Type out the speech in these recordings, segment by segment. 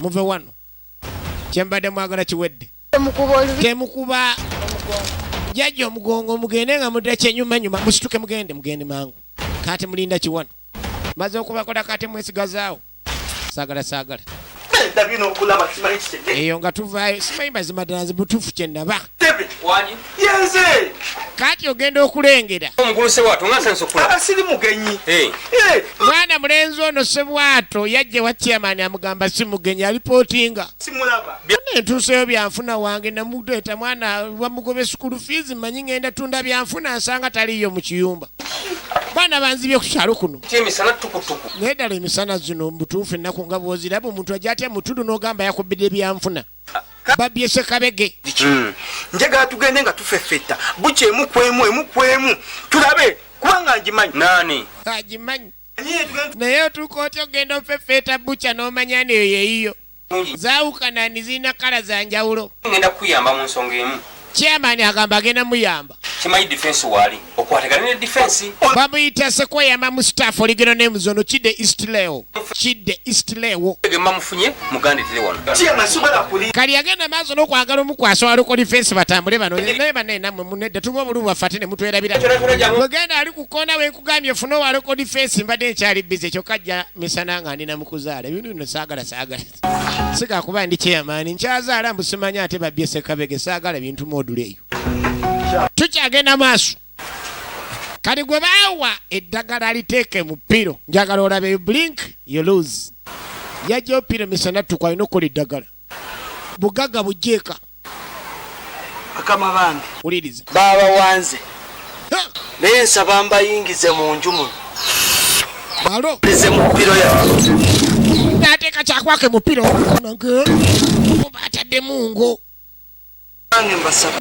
muve wano kyembadde mwagala kiwedde temukuba jajja omugongo mugende nga mudda kyenyumanyuma musituke mugende mugende mangu kati mulinda kiwano maze okubakola kati mwesigazaawo sagala sagala eyo nga tuvaayo simanyi mazima ddala nzi butuufu kyenaba yenze kati ogenda okulengera omukulu sebwato nga nsanso kula abasiri mugenyi eh. Eh. mwana mulenzi ono sebwato yajja wa chairman amugamba si mugenyi alipotinga simulaba entuuseyo byanfuna wange namudeeta mwana bamugobe sukulu fees manyi ngenda tunda byanfuna nsanga taliyo mu kiyumba baana banzibye okukyalo kuno naye ddala emisana zino mubutuufu ennaku nga bwoziraba omuntu ajja atya mutudu n'ogamba yakubidde byanfuna babye sekabege hmm. njagala tugende nga tufefetta bukya emu kwemu emu kwemu tulabe kubanga ngimanyi nani agimanyi naye otuuka otya ogenda ofefeeta bukya n'omanya neyo yeyiyo zaawukanani zirina kala za njawulo ngenda kukuyamba mu nsonga emu chairman agamba agenda muyamba kimanyi defense waali okwatagana ne defense bamuyita sekweyama mu staff oligero name zono kidde east leo kidde east leo gema mufunye muganda tire wano chairman sobola kuli kali agenda mazo no kwagala omukwasa wali ko defense batambule bano naye bane namwe munedde tuba obulubu bafate ne mutwera bira muganda ali kukona we kugamye funo wali ko defense mbade ekyali bize kyokajja misana nga ndi namukuzaala bino no sagala sagala siga kuba ndi chairman nkyazaala mbu simanyi ate babbye sekabege saagala bintu module eyo tukyagenda maaso kati gwe baawa eddagala liteeke mu piro njagala olabe blink you lose yajja opiro misana tukwalina okukola eddagala bugagga bujjeeka bakama bange babawanze naye nsaba mbayingize mu nju muno nateeka kyakwake mupiro bataddemu ngo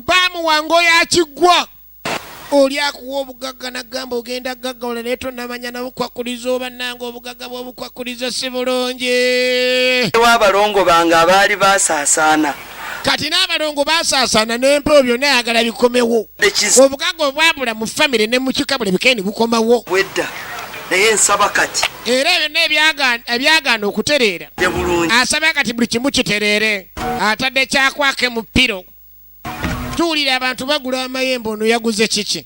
bamuwa ngo yakiggwa oli akuwa obugagga nagamba ogenda gaggawala naye tonamanya nabukwakuliza oba nange obugagga bwobukwakuliza si bulungi ewa abalongo bange abaali basaasaana kati n'abalongo basaasaana n'empewo byonna ayagala bikomewo obugagga obwabula mu famire ne mu kika buli bikendi bukomawo wedda naye nsaba kati era byonna ebyagaana okutereera asaba kati buli kimu kitereere atadde kyakwake mu piro tuwulira abantu bagula amayembe ono yaguze kiki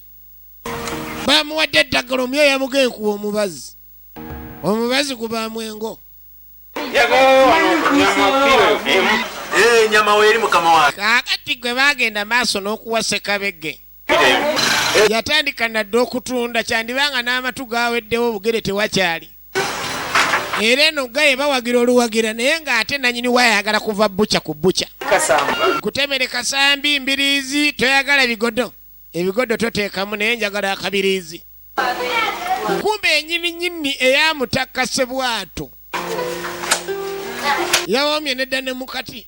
bamuwadde eddagala omuyo yamugae kuwa omubazi omubazi gubaamu engo kakati gwe bagenda maaso n'okuwa sekabege yatandika nadde okutunda kyandibanga n'amatu gaweddewo obugere tewakyali era eno gaye bawagira oluwagira naye ng'ate nanyini wayagala kuva buca ku buca kutemere kasambi mbiriizi toyagala bigodo ebigodo toteekamu naye njagala akabiriizi kumba enyini nyini eyamutakka sebwato yawomye nedda ne mukati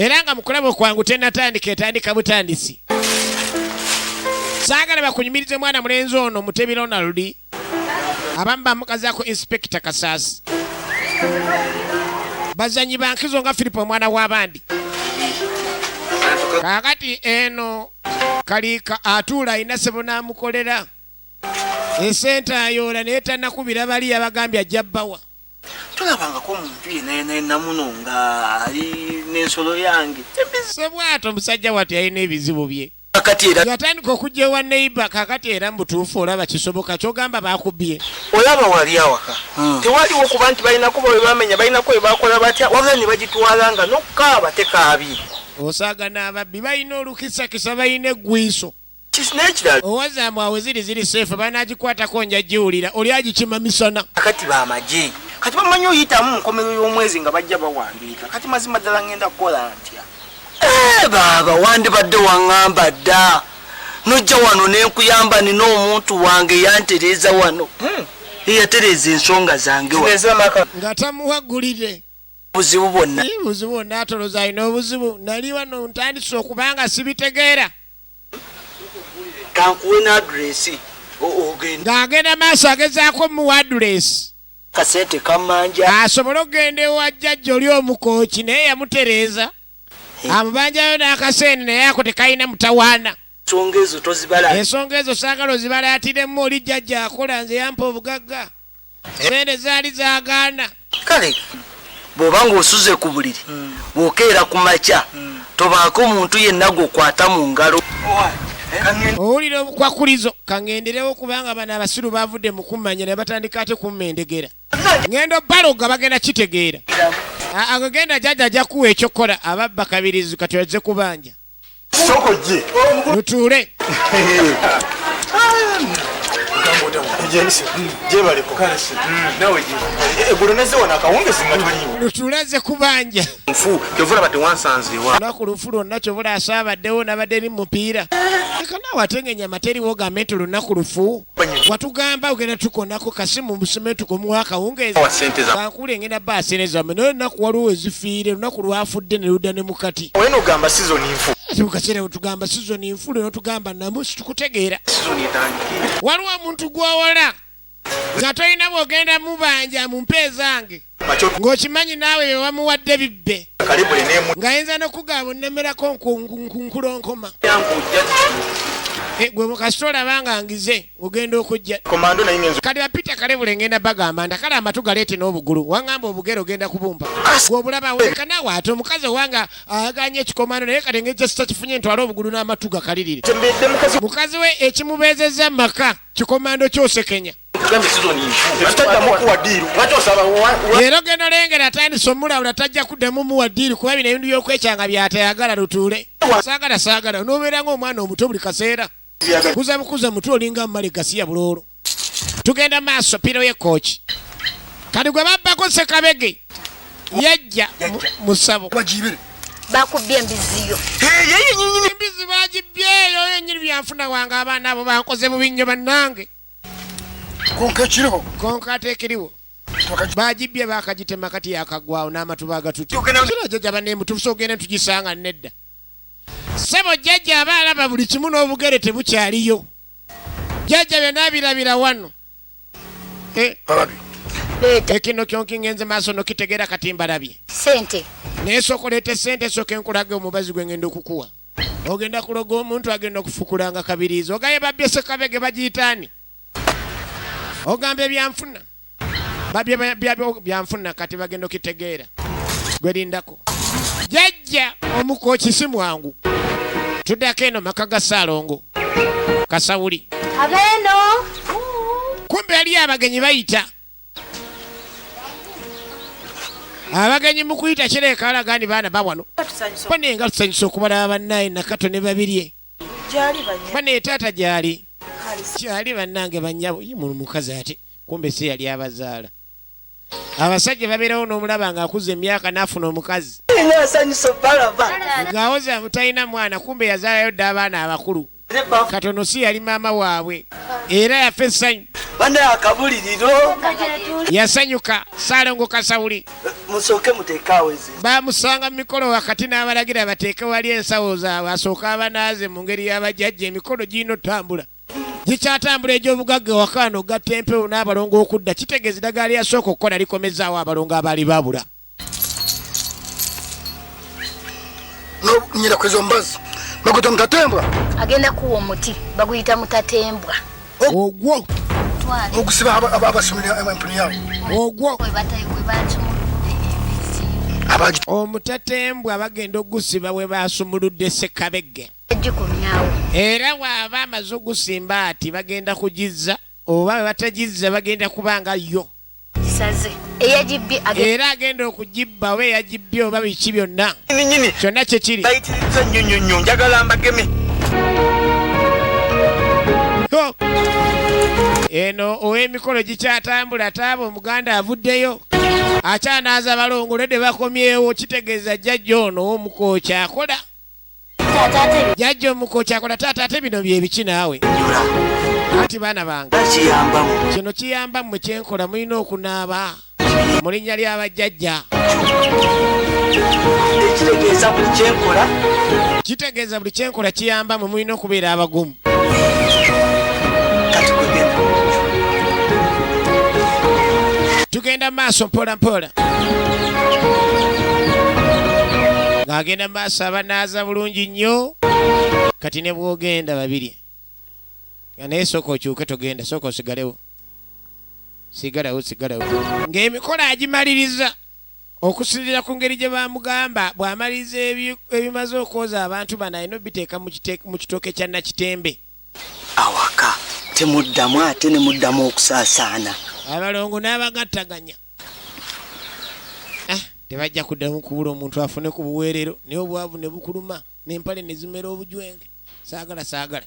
era nga mukulaba okwangu tenatandika etandika butandisi saagala bakunyumirize mwana mulenzi ono mutebi ronald abamu bamukazako inspekita kasaasi bazanyi bankizo nga filipo omwana w'abandi kakati eno kaliika atuula alina sebo n'amukolera esente ayoola naye tanakubira bali yabagambye ajja bbawa tolabangako muntu yenayena enamuno nga ali nensolo yange sebwato musajja watu yalina ebizibu bye yatandika okujja ewa neiba kakati era mubutuufu olaba kisoboka kyogamba bakubye olaba wali awaka hmm. tewaliwo kuba nti balinako bwebamenya balinako webakola batya wabula nebagitwala nga nokukaaba tekaabi osaaga n'ababbi balina olukisakisa balina eggwiiso owaza mbu awo ziri ziri seefu banagikwatako nja giwulira oli agikima misana kati bamagye kati bamanyi oyitamu munkomerero y'omwezi nga bajja bawandiika kati mazima ddala ngenda kukola ntya eh, baaba wandibadde waŋŋamba dda nojja wano nenkuyamba nina omuntu wange yantereeza wano hmm. eyatereeza ensonga zange nga tamuwagulire buzibu bwonna buzibu bwonna atoloza alina obuzibu naliwano ntandise okubanga sibitegeera kankuwe n'adulesi ogenda ng'agenda maaso agezaako omuwa adulesi kasente kamanja asobole okugenda ewa jjajja oli omukooki naye yamutereeza amubanjayo n'akasente naye ako tekalina mutawaana ensonga ezo tozibala ensonga ezo saagala ozibalaatidemu oli jjajja akola nze yampa obugagga sente zaali zagaana kale bwoba ngaosuze ku buliri bwokeera ku makya tobaako muntu yenna gwokwata mu ngalo owulira obukwakulizo kangenderewo kubanga bano abasiru bavudde mu kummanya ne batandika ate kummendegera ngendo baloga bagenda kitegeera agagenda jaja aja kuwa ekyokukola ababba kabirizi kati oze kubanja sokojje mutuule gyebaliko eggulo nezze wano akawungezi nga toliiwo lutulaze kubanja nfu kyova olaba tewansanzeewa lunaku lufu lwonna kyova olaasa abaddewo nabadde ni mupiira eka naawe ate nga enyama teriwo ogambe nti lunaku lufu watugamba ogenda tukonako kasimu musemetuko muwa akawungeezi kankule ngenda ba sente zammwe naye olunaku waliwo ezifiire lunaku lwafudde ne ludda ne mukati wenogamba sizoni nfu ate mukaseera wetugamba sizoni nfu lwe notugamba namu situkutegeera waliwo omuntu gwowala nga tolina bwogenda mubanja mu mpeezange ng'okimanyi naawe bye bamuwadde bibbe ng'ayinza n'okugaba onnemerako nkulonkoma eh, gwe mukasita olaba nga ngize ogenda okujja kati bapita kalebule ngenda bagamba nda kale amatu galeete n'obugulu waŋamba obugere ogenda kubumba gwobulaba weka naawe ate omukazi owanga aganye ekikomando naye kati ngejja sitakifunye ntwala obugulu n'amatu gakalirire mukazi we ekimubeezezza maka kikomando kyosekenya era ogenda olengera atandise omulawula tajja kuddamu muwa ddiiri kuba bino ebintu byokwekyanga byatayagala lutuule saagala saagala onobeera ngaomwana omuto buli kaseera kuza bukuza mutu olinga mumale gasiya buloolo tugenda maaso piro yekooki kati gwe babbako sekabege yajja musabo bakubbye embiziyo embizi bagibyeyo yenyini byanfuna wange abaana abo bankoze bubi nnyo bannange konka ekiriwo konka ate ekiriwo bagibbye bakagitema kati yakagwawo n'amatuba agatutjajaba nemutuusa ogenda tugisanga nedda sebo jjajja aba alaba buli kimu n'obugere tebukyaliyo jjajja byona birabira wano eh. ekino kyonki ngenze maaso nokitegeera kati mbalabye naye sooka oleete sente esooka enkulage omubazi gwe ngenda okukuwa ogenda kuloga omuntu agenda okufukulanga kabiriizi ogaye babye sekabege bagiyitaani ogamba ebyanfuna babye byanfuna kati bagenda okitegeera gwerindako jajja omukoki si mwangu tudako eno maka ga saalongo kasawuli abeeno kumbe yaliyo abagenyi bayita abagenyi mukuyita kireka alaga ni baana bawano bane enga tusanyusa okubalaba banaye nakato ne babirye bane taata gyali kyali banange banyabo yimunu mukazi ate kumbe si yali abazaala abasajja babeerawo n'omulaba ng'akuza emyaka n'afuna omukazi ng'awoza mutalina mwana kumbe yazaalayo dda abaana abakulu katono si yali maama waabwe era yafa essanyu banaye akabuliriro yasanyuka salongo kasawuli musooke muteekaawo ezi bamusanga mu mikolo wakati n'abalagira bateeke wali ensawo zaabwe asooke abanaaze mu ngeri y'abajajja emikolo girina otambula gikyatambula egy'obugagga wakaano gatta empewo n'abalongo okudda kitegeeza eddagala lyasooka okukola likomezaawo abalongo abaali babula nyira kwezo mbazi bakuta mutatembwa agenda kuwa omuti baguyita mutatembwa ogwo okusiba abasomera empuni yawe ogwo omutatembwa bagenda okugusiba we basumuludde sekabegge era waaba amaze ogusimba ati bagenda kugizza oba we batagizza bagenda kubanga yo era agenda okugibba oba eyagibbye oba biki byonna kyonna kyekiri eno ow'emikolo gikyatambula taaba omuganda avuddeyo akyanaaza balongole de bakomyewo kitegeeza jjajja ono omukookyakola jajja omuko kyakola taata ate bino byebiki naawe anti baana bange kino kiyamba mmwe kyenkola mulina okunaaba mu linnya ly'abajjajja kitegeeza buli kyenkola kiyamba mwe mulina okubeera abagumu tugenda maaso mpola mpola ng'agenda maaso abanaaza bulungi nnyo kati ne bwogenda babiri nga naye sooka okyuke togenda sooka osigalewo sigalawo sigalawo ng'emikolo agimaliriza Okusinzira ku ngeri gye bamugamba, bw'amaliriza ebimaze okwoza abantu bano alina obiteeka mu kitooke kya Nakitembe. Awaka temuddamu ate ne muddamu okusaasaana. Abalongo n'abagattaganya ah, tebajja kuddamu kubula omuntu afune ku buweerero naye obwavu ne bukuluma n'empale ne zimera obujwenge. Saagala saagala.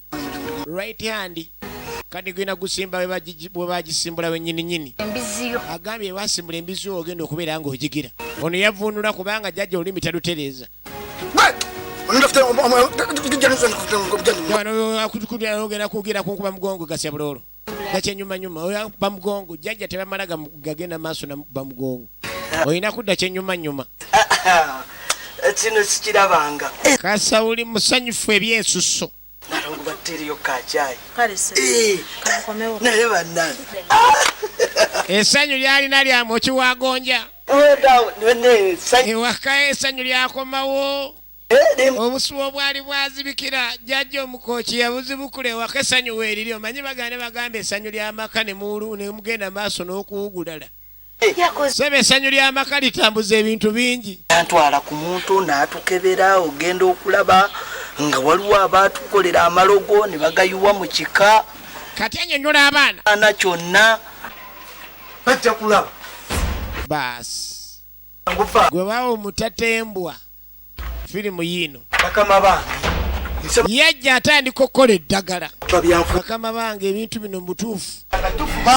right hand kati gwina gusimba webagisimbula wenyininyini agambye basimbula embizi yo ogenda okubeera nga ogigira ono yavunula kubanga jajja olulimi talutereeza ogenda kugira kunkuba mugongo gasya buloolo nakyenyumanyuma oyo akuba mugongo jjajja tebamala gagenda maaso namukuba mugongo olina kudda kyenyumanyuma kino sikirabanga kasawuli musanyufu ebyensuso nalongo bateriyo kacayi eh, naye banange esanyu lyalina lyamu okiwagonja ewaka esanyu lyakomawo obusuwa obwali bwazibikira jjajja omukooki yabuzibukula ewaka essanyu weeriri omanyi bagane bagamba essanyu ly'amaka ne mugenda maaso n'okuwugulala sebe essanyu ly'amaka litambuza ebintu bingi antwala ku muntu n'atukebera ogenda okulaba nga waliwo abaatukolera amalogo ne bagayiwa mu kika kati anyonyola abaana ana kyonna bajja kulaba baasi gwe bawo mutatembwa firimu yiino yajja atandika okukola eddagala bakama bange ebintu bino mubutuufu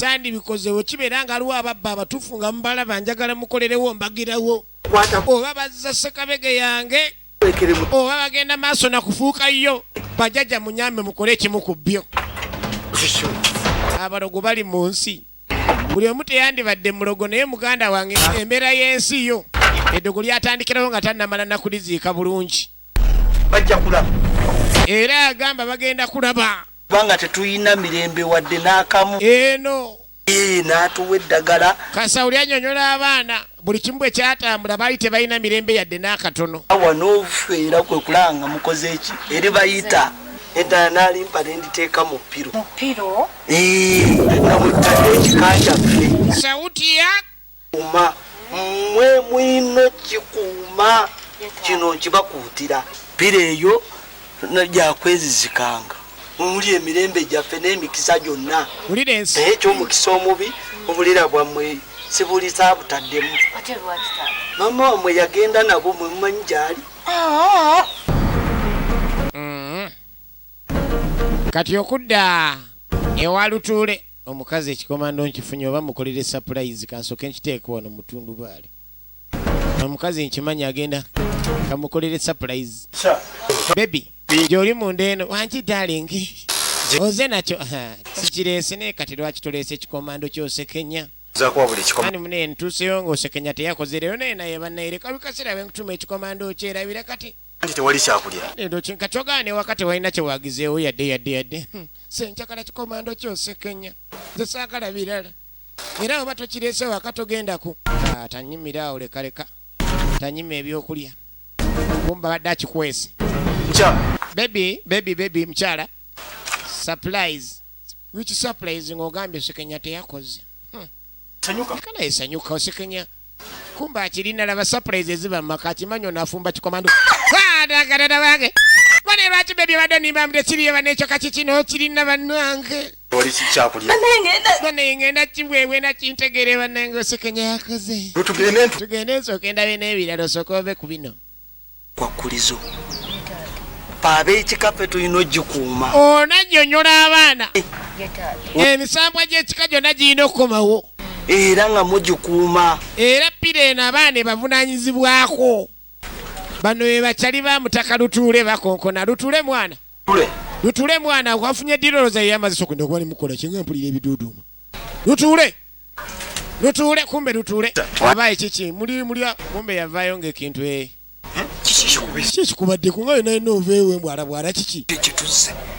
sandi bikozewo kibeera nga aliwo ababba abatuufu nga mubalaba njagala mukolerewo mbagirawo oba bazza sekabege yange oba bagenda maaso nakufuuka yo bajaja munyambe mukole ekimu ku byo abalogo bali mu nsi buli omu teyandibadde mulogo naye muganda wange embeera y'ensi yo eddogo lyatandikirawo nga tannamala nakuliziika bulungi bajja kulaba era agamba bagenda kulaba kubanga tetulina mirembe wadde n'akamu eno natuwa eddagala kasawuli anyonyola abaana buli kimu bwe kyatambula baali tebalina mirembe yadde n'akatono awa n'ofeera kwe kulanga mukoze eki eri bayita eddala n'alimpa ne nditeeka mu piro nga mutadde ekika kyaffe sautiya uma mwe mwino kikuuma kino nkibakuutira piro eyo gyakwezizikanga omuli emirembe gyaffe n'emikisa gyonna naye ekyomukisa omubi obulira bwammwe sibulisa butaddemu mama wamwe yagenda nabo mwe mumanyi gyali mm-hmm. kati okudda ewa lutuule omukazi ekikomando nkifunye oba mukolere sapulayizi kansoke nkiteeka wano mutundubaali omukazi nkimanyi agenda kamukolere surprise bebi gyoli munda eno wangi darling oze nakyo sikireese naye kati lwaki tuleese ekikomando kyosekenya ani mune ntuuseyo ngaosekenya teyakoze leero naye naye bannayereka bikasera benkutuma ekikomando okyerabira kati nti tewali kyakulya lero kinka kyogane waka tewalina kyewagizeewo yadde yadde yadde hmm. senkyakala kikomando kyosekenya zesaagala birala era bweba tokirese waka togendako ah, tanyimira awo lekaleka tanyima ebyokulya kumba badde akikwese bebi bebi bebi mukyala supplies which supplies ng'ogambye osekenya teyakoze hmm. sanyuka kana esanyuka osekenya kumba akirina laba surprise eziba mumaka akimanyi ono afumba kikomando adagadada wange bane lwaki bebi badde nimba mde kiriyo banekyo kakikino kirina banange oli kikyakulya bane ngenda kibwebwe nakintegere banange osekenya yakoze tugende nsooka endabe n'ebirala osooka ove ku bino kwakkulizo ab'ekika ffe tulina ogikuuma onannyonnyola abaana eh. emisambwa gy'ekika gyonna girina okukomawo era nga mugikuuma era pira eno abaana ebavunanyizibwako bano bebakyali ba mutaka lutuule bakonkona lutuule mwana lutuule mwana wafunye diroloza yeyamaziso kenda okuba nemukola kyenga mpulira ebiduuduuma lutuule Lutuule kumbe lutuule. Aba ekiki muli muli kumbe yavayo ng'ekintu eh. Kiki kubadde ku ngayo naye noveewo embwa alabwala kiki?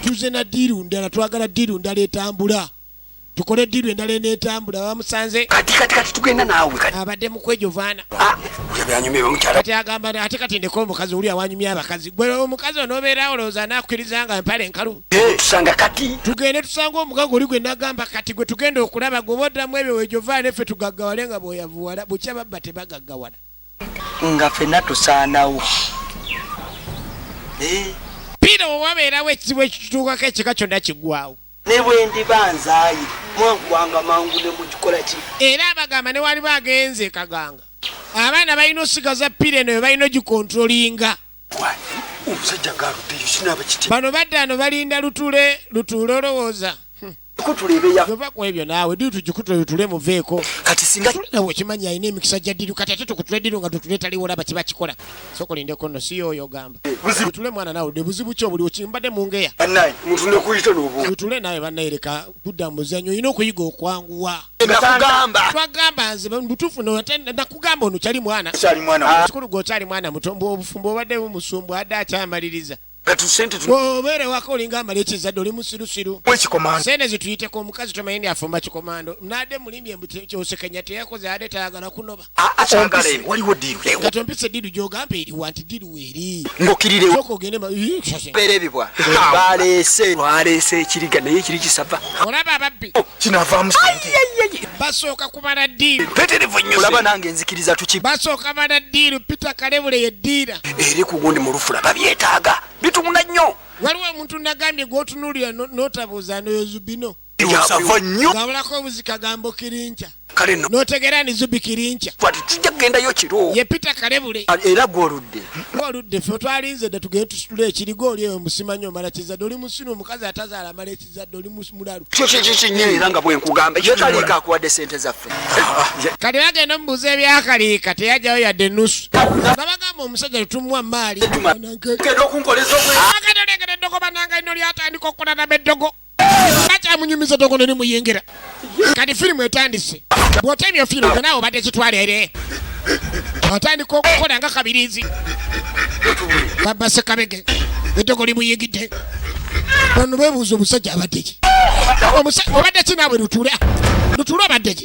Tuzze na ddiiru ndala twagala ddiiru ndala etambula. Tukole ddiiru endala eneetambula bamusanze. Kati kati kati tugenda naawe kati. Abadde mukwejo vaana. Ah, kati agamba ate kati ndeka omukazi oli awanyumya abakazi. gwe omukazi onobeerawo olowooza anakukkiriza nga mpale enkalu eh, tusanga kati tugende tusanga omugaga oli gwe nagamba kati gwe tugenda okulaba gwe boddamu ebyo wejovaa neffe tugaggawale nga bweyavuwala bukya babba tebagaggawala nga fena tusaanawo eh. piira owabeerawo ekizibu ekitutuukako ekika kyonna kiggwawo ne bwe ndiba nzaaye mwaggwanga mangu ne mukikola ki era abagamba ne waliba agenze kaganga abaana balina osigaza pira eno ebalina ogikontrolinga omusajja ngaaluddeyo sinaaba kiti bano badde ano balinda lutule lutuule olowooza ova ku ebyo naawe dii tugikutule lutule muveeko kati singa nawe okimanyi alina emikisa gya ddiru kati ate tukutule ddiru nga tutuletaliwo olaba kiba kikola sokolindeko nno si yooyo ogamba buzibu tule mwana nawe de buzibu kyo buli okimbade mungeya naye muntu ne kuyita lobo tule nawe banaye leka kudda muzanyo ino kuyiga okwanguwa nakugamba twagamba nze mutufu no atenda nakugamba ono chali mwana chali mwana ah. kikulu go chali mwana mutombo obufumbo obadde mumusumbu ada achamaliriza obeere wako olinga amala ekizadde oli musirusiru sente zituyiteko omukazi tomanyi ni afumba kikomando nade mulimbye mbu kyosekenya teyakoze ade tayagala kunoba waliwo diirulewogato mpise diiru gyogamba eriwa nti diiru weeri ngokirirewoerebibwa baleese baleese ekiriga naye ekiri kisava olaba ababbi oh, kinavaamu basooka kubala diiru peterevu nyo olaba nange nzikiriza tuki basooka bala diiru peter kalebule ye diira eri ku gundi mu lufula babyetaaga bitumuna nnyo waliwo omuntu nagambye gwotunuulira notabuuza noyozubino yabwe nnyo wabulako obuzi kagambo kirinkya kale no notegeera ni zubi kirinkya twati tujja kugendayo kiro ye pita kalebule era gwoludde oludde fe twalinze dda tugende tusitule ekiriga oli eyo musimanyi omala kizadde oli musina omukazi atazaala amala ekizadde oli mus- mulalu kyo kyekyo kyennyini era nga bwenkugamba ye kaliika akuwadde sente zaffe kati bagenda omubuuza ebyakaliika teyajjayo yadde enusu nga bagamba omusajja tetumuwa maali genda okunkoleza obwe akatolengera eddogo bananga lino lyatandika okukola naba eddogo kyamunyumiza tongo ne muyingira kati firimu etandise bwotemya firimu gwe naawe obadde kitwala ere atandika okukola nga kabirizi babasekabege edogo limuyingidde bano bebuuza omusajja abaddeki obadde ki naawe lutuula lutuula abaddeki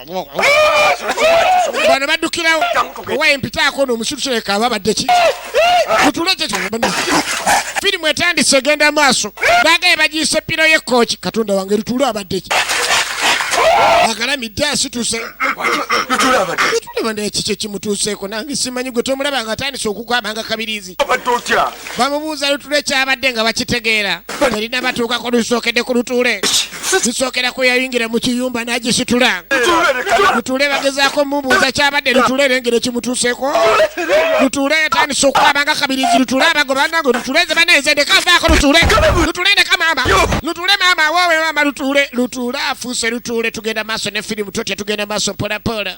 bano baddukirawo owaye mpitaako no omusiru kireka aba badde ki kutule kye firimu etandise egenda maaso bagaye bagiyisa eppiro y'ekkooki katonda wange lutule abadde ki agalamidde asituse tulaba nekikyo kimutuuseeko nange simanyi gwe tomulaba nga atandise okugwama nga kabiriizi Kati obadde otya? Bamubuuza lutuula ekyabadde nga bakitegeera erina batuukako lusookedde ku lutuule zisookera ku yayingira mu kiyumba n'agisitula lutuule bagezaako mubuuza kyabadde lutuule erengera ekimutuuseeko lutuule yatandise okukwaba nga kabirizi lutuule abago banange lutuule ze banaeze ndekavaako lutuule lutuule ndeka maama lutuule maama awowe maama lutuule lutuule afuuse lutuule tugenda maaso ne firimu totya tugenda maaso mpolampola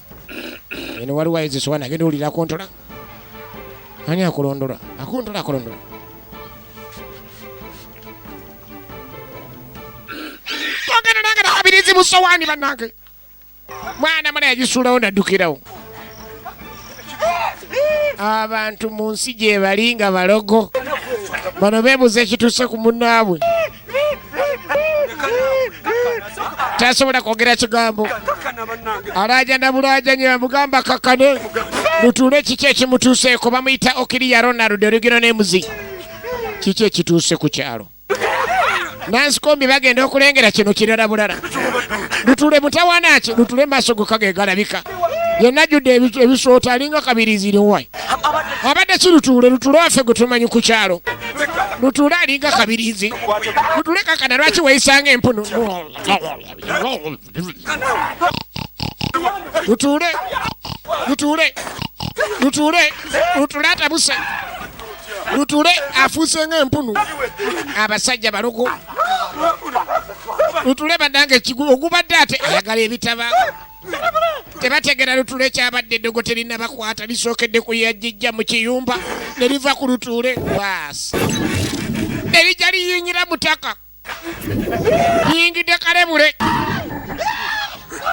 eno waliwo ayizisoba nagenda owulira akontola ani akulondola akontola akulondola ogenda nange nakabirizi musowaani bannange mwana mala yagisuulawo naddukirawo abantu mu nsi gyebali nga balogo bano beebuza ekituuse ku munnaabwe tasobola kwogera kigambo alaja nabulaja nye bamugamba kakane mutuule kiki ekimutuuseeko bamuyita okiriya ronald olugero nemuzi kiki ekituuse ku kyalo nansikombi bagenda okulengera kino kirala bulala lutule mutawana ki lutule maaso gokagegalabika yenna judde ebisoota alinga kabirizi liwai abadde ki lutuule lutuule waffe gwe tumanyi ku kyalo lutuule alinga kabirizi lutuule kakana lwaki weyisanga empunu lutuule lutuule lutuule lutuule atabuse lutuule afuuse nga empunu abasajja balogo lutuule badanga ekigulu ogubadde ate ayagala ebitaba tebategera lutuule kyabadde eddogo terinabakwata lisookedde ku yajijja mu kiyumba ne liva ku lutuule baasi ne lijja liyingira mutaka liyingidde kalebule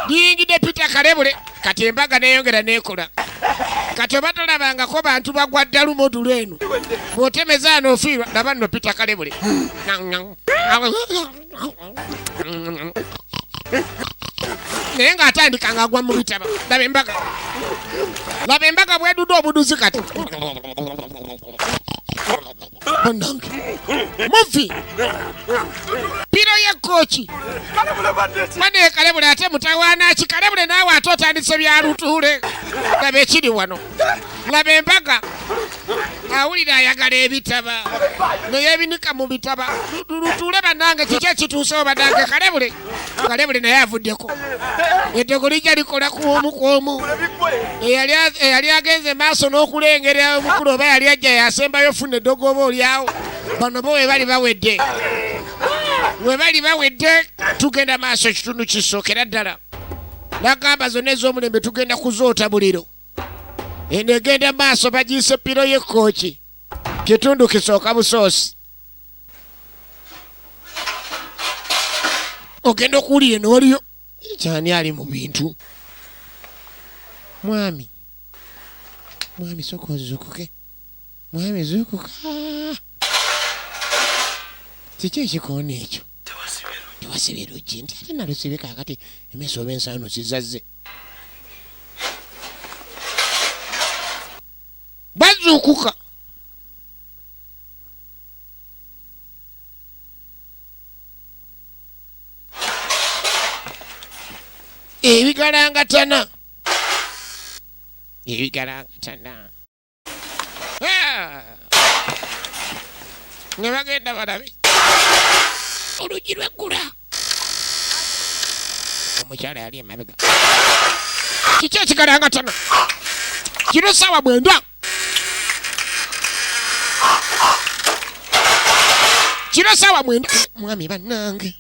liyingidde pita kalebule kati embaga neyongera nekola kati oba tolabangako bantu bagwa ddalu modulu eno bwotemezaano ofiirwa laba nno pita kalebule naye ng'atandika ng'agwa mu bitaba laba embaga laba embaga bwedudde obuduzi kati banange muvi piro yekkooki manekalebule ate mutawaana ki kalebule naawe ate otandise bya lutuule laba ekiri wano laba embaga awulira ayagala ebitaba neyebinika mu bitaba lutuule banange kiki ekituuse obadange kalebule kalebule naye avuddeko eddogo lijja likola kwomu kwomu eyali agenze maaso n'okulengera omukulu oba yali ajja yasembayo funa eddogo oba olyawo bano bo webali bawedde webali bawedde tugenda maaso ekitundu kisookera ddala nagamba zonna ez'omulembe tugenda kuzoota buliro eno egenda maaso bagiyise piro y'ekkooki kitundu kisooka busoosi ogenda okuwulira eno waliyo kyani ali mu bintu mwami mwami soka ozukuke mwami zukuka kiki ekikoona ekyo tewasibe luggi nti ate nalusibe kakati emeso oba ensaano zizazze bazuukuka ebigalangatana ebigalangatana ne bagenda balabe oluggi lweggula omukyala yali emabega kiki ekigalanga tana kino saawa bwendwa kino saawa mwenda mwami bannange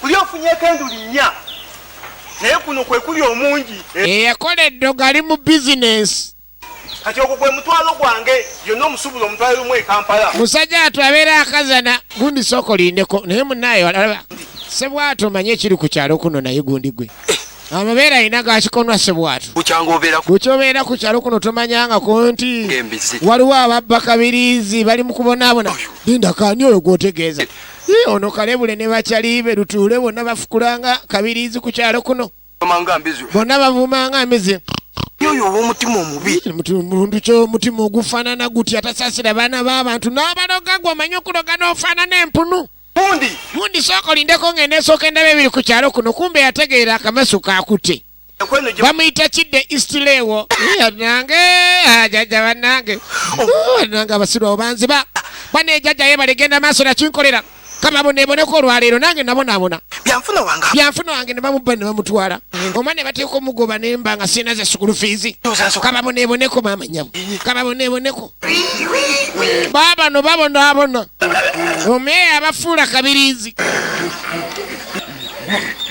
Kuli ofunyeko enduli nnya naye kuno kwe kuli omungi. Eyakola eddogo ali mu bizinensi. Kati ogwo gwe mutwalo gwange yonna omusuubula omutwalo lumu e Kampala. Musajja watu abeera akazana. Gundi sooka olindeko naye munnaayo alaba. Sebwatu omanyi ekiri ku kyalo kuno naye gundi gwe. Eh. Amabeera alina gakikonwa sebwatu. Bukyobeera ku kyalo kuno tomanyangako nti waliwo ababba kabiriizi bali mu kubonaabona. Linda kaani oyo gw'otegeeza. Eh. Hii, ono kalebule ne bacalibe lutuule bonna bafukulanga kabiriizi ku kyalo kuno bonna bavumanga mbizi oyo owomutima omubi muntu kyomutima ogufanana guti atasasira baana babantu nabaloga gwe omanyi okuloga nofanana empunu bundi bundi sooka olindeko ngende esooka endaba ebiri ku kyalo kuno kumbe yategeera akamasu kakute bamuyita kidde istilewo nange ah, jajja banange oh. nange abasiru abo banziba bane ejajja ye baligenda maaso nakinkolera kababoneboneko olwaleero nange nabonabona byanfuna wange nebamubba nebamutwala mm. oma nebateeka omugoba nemba nga sina ze sukulu fiizi kababoneboneko maama nyabo kababoneboneko babano babonabona omeeya abafuula kabirizi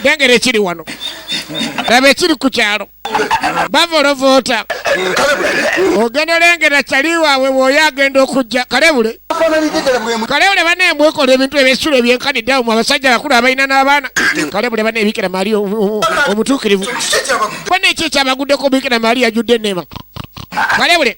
lengera ekiri wano laba ekiri ku kyalo bavolovoota ogenda olengera kyali waabwe bwoyo agenda okujja kalebule kalebule bana emwekola ebintu ebyesula ebyenkanidde awo mu abasajja abakulu abalina n'abaana kalebule bana ebikira maali omutuukirivu bana ekyo ekyabaguddeko bikira maali yajudde enema kalebule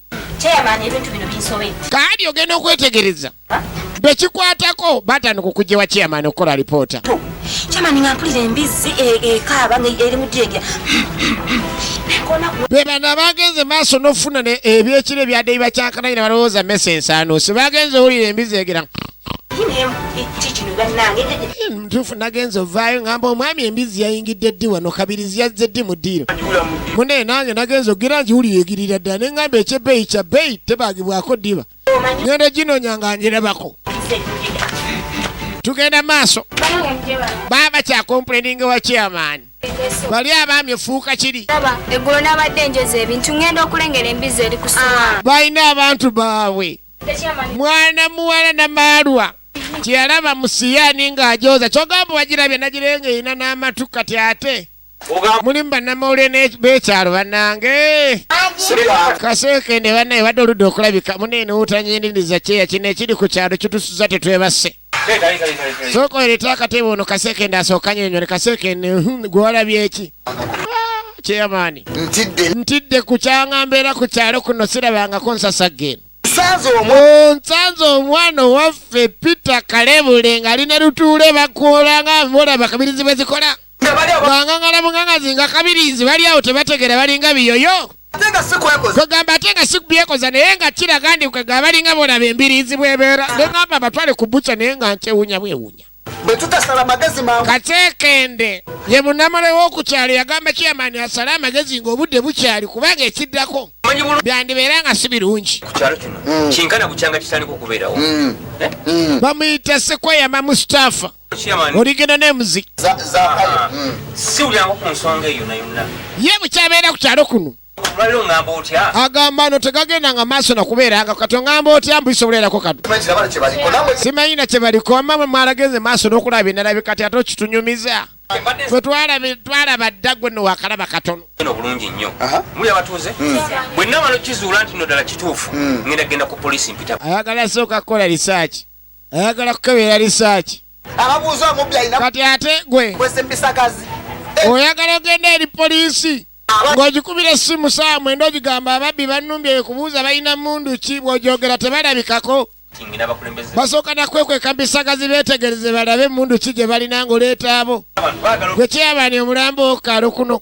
Chairman ebintu bino binsobedde. Kaadi ogenda okwetegereza. Bekikwatako batandika okujja wa chairman okukola alipoota. Chairman nga mpulira embizzi e, ekaaba nga eri mu dyeja. Be bano abaagenze maaso n'okufuna ebyekiro ebyadeyi bakyankana ina balowooza mesa ensaano. Sibagenze owulira embizzi egera. ntuufu nagenza ovaayo ngamba omwami embizi yayingidde ddi wano kabirizi yazze ddi mu ddiiro munaye nange nagenza ogira ngiwuli yegirira ddala ne ngamba ekyebbeeyi kya bbeeyi tebaagibwako ddiba ngenda ginonya nga ngirabako tugenda maaso baaba kyakompuleninga wa chairman bali abaami efuuka kiri eggulo nabadde njoza ebintu ngenda okulengera embizi eri kusoa ah. balina abantu baabwe mwana muwala namaalwa kyeyalaba musiyani ng'ajooza kyogamba wagirabye nagirenga erina n'amatu kati ate mulimu bannamawulire bekyalo bannange kaseekende bannaye badde oludde okulabika muneene wutanyiniriza kyeya kino ekiri ku kyalo kitusuza tetwebase sooka oleete akatebe ono kasekende asooka nyonyole kasekende hmm, gwe walabye eki kyeyamaani ntidde ku kyanga mbeera ku kyalo kuno sirabangako nsasagga eno onsanze omwana owaffe peter kalebule ng'ali ne lutuule bakuolanga mbola bakabirizi bwe zikola nga bali aba- bangangala mungangazi nga kabirizi bali awo tebategera balinga biyoyo ate nga si kwekoza kwegamba ate nga sikubyekoza naye nga kiraga ndi kwegamba balinga bolaba embiriizi bwebeera nengamba abatwale ku buca naye nga nkyewunya bwewunya bwe tutasala magezi mangu kateekende ye munamale w'okukyalo yagamba kiyamaani asale amagezi ng'obudde bukyali kubanga ekiddako manyi bulungi byandibeera nga si birungi ku kyalo kino kinkana bukyanga kitandika okubeerawo Eh? bamuyita sekweyama mustapha oligenda nemuzi ye bukyabeera ku kyalo kuno agamba no tegagenda nga maaso nakubeeranga kati ongamba otya mbuisobolerako kati simanyi na kyebaliko ama mwe mwalagenze maaso n'okulaba binalabi kati ate okitunyumiza gwe twalaba dda gwe no wakalaba katono obulungi nnyo muli abatuuze hmm. bwe namala okizuula nti no ddala kituufu hmm. ngenda genda ku polisi mpita ayagala sooka kukola risaaki ayagala kukebera lisaaki ababuuza omubbi alina kati ate gwe kwesa empisakazi eh. oyagala ogenda eri poliisi ng'ogikubira essimu saawa mwenda ogigamba ababbi bannumbye ekubuuza balina mundu ki bw'ogyogera tebalabikako basooka nakwekweka bisagazi beetegereze balabe emundu ki gye balina ng'oleeta abo gwe kyeyabani omulambo okukalo kuno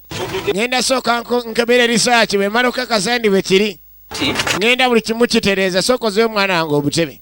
ngenda sooka nko- nkebera erisaaki bwe mala okakasa ndi bwe kiri ngenda buli kimu kitereeza sooka ozeyo omwana wange obutebe